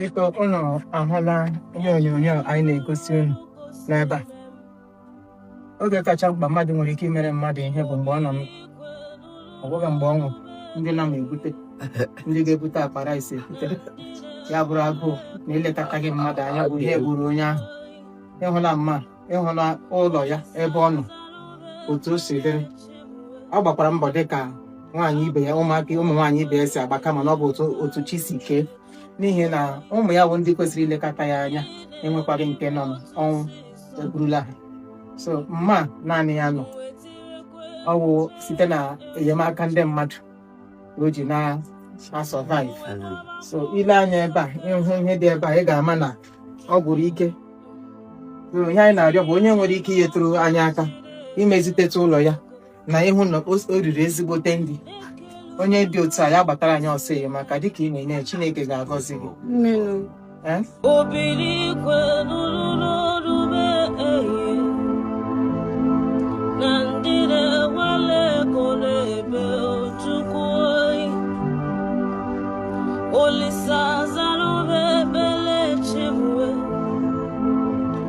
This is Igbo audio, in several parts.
biko unu ahụla ihe onyonyo anyị na-egosi unu n'ebe a oge kacha mkpa mmadụ nwere ike imere mmadụ ihe bụ mgbe ọ nọ ọ bụghị mgbe ọ nwụrụ ndị na-ebute ndị ga-ebute akpa rice ebute ya bụrụ agụụ na ilekọtaghị mmadụ anya bụ ihe gburu onye ahụ ị hụla mma ị hụla ụlọ ya ebe ọ nọ otu o si dịrị ọ gbakwara mbọ dị ka nwaanyị ibe ya ụmụaka ụmụ nwaanyị ibe ya si agba kama na ọ bụ otu chi si kee n'ihi na ụmụ ya bụ ndị kwesịrị ilekọta ya anya enwekwaghị nke nọ ọnwụ eburula ha sọ mma naanị ya nọ ọ bụ site na enyemaka ndị mmadụ o ji na-asurvive so i lee anya ebe a hụ ihe dị ebe a ị ga-ama na ọ gwụrụ ike ihe anyị na-arịọ bụ onye nwere ike inyetụrụ anyị aka imezitetụ ụlọ ya na ịhụ na o riri ezigbote ndi onye dị otu a ya gbatara anyị ọsọ enyemaka dịka ị na-enye Chineke ga-agọzi gị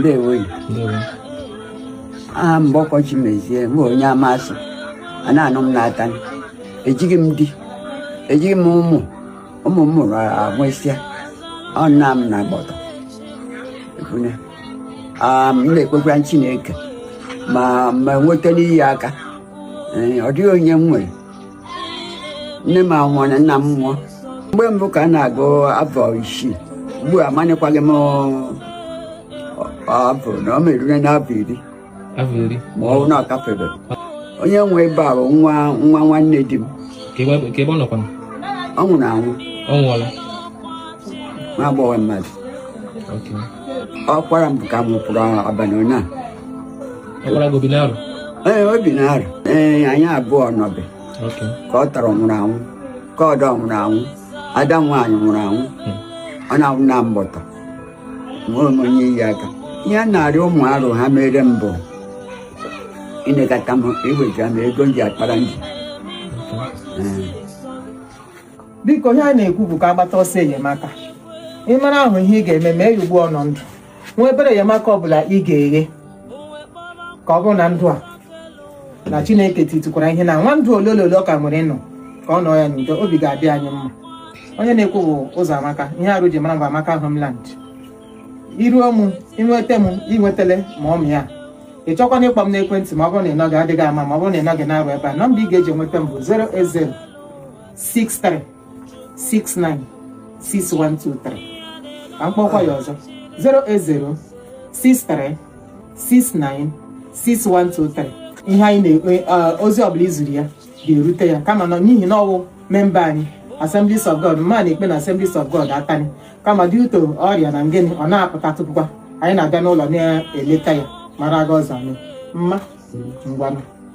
ndewo aha Mgbọkwọ Chimezie bụ onye Amasu a na-anụ m n'Atani ejighị m di ejighị m ụmụ ụmụ m mụrụ agwụsịa ọ nna m na agbọtọ m na-ekpekwa chineke ma m nweta ndị iye aka ọ dịghị onye m nwere nne m anwụọ na nna m nwụọ mgbe mbụ ka a na-agụ afọ isii ugbu a amanịkwaghị m afọ na ọ merire n'afọ iri afọ iri ma ọ bụ na ọ gafebe onye nwe ebe a bụ nwa nwa nwanne di m ka ebe ka ebe ọ nọkwa ọ nwụrụ anwụ ọ nwụọla nwa agbọghọ mmadụ Okay. ọkwara m ka m pụrụ abalị ụnyaahụ ọkwara gị o bi n'Arụ ee o bi n'Arụ ee anyị abụọ nọbe ka ọ tọrọ nwụrụ anwụ ka ọdọ nwụrụ anwụ ada nwaanyị nwụrụ anwụ hmm. ọ na-anwụ na mbọtọ nwee onye iye aka ihe na-arịọ ụmụ Arụ ha meere m bụ ịnekọta m iwetara m ego m ji akpara ndi biko ihe a na-ekwu bụ ka a gbata ọsọ enyemaka ị mara ahụ ihe ị ga-eme mee ya ugbu ọ nọ ndụ nwa obere enyemaka ọbụla ị ga-enye ka ọ bụrụ na ndụ a na chineke titukwara ihe na nwa ndụ ole ole ole ọ ka nwere ịnọ ka ọ nọ ya n'udo obi ga-adị anyị mma onye na-ekwu bụ Ụzọamaka ihe Arụ ji mara bụ Amaka Homeland iruo mụ inweta m inwetele ma ọ m ya ị chọkwana ịkpọ m n'ekwentị ma ọ bụrụ na ị nọghị adịghị ama ma ọ bụrụ na ị nọghị n'Arụ ebe a nọmba ị ga-eji enweta m bụ 080 63 69 6123 ka m kpọkwa ya ọzọ 080 63 69 6123 ihe anyị na-ekpe eh, ozi ọbụla i ziri ya ga-erute ya kama nọ n'ihi na ọ wụ memba anyị Assemblies of God mma na-ekpe na Assemblies of God Atani kama dị uto ọrịa na ngịnị ọ na-apụta tupukwa anyị na-abịa n'ụlọ na-eleta ya mara aga ọzọ mma ngwa nụ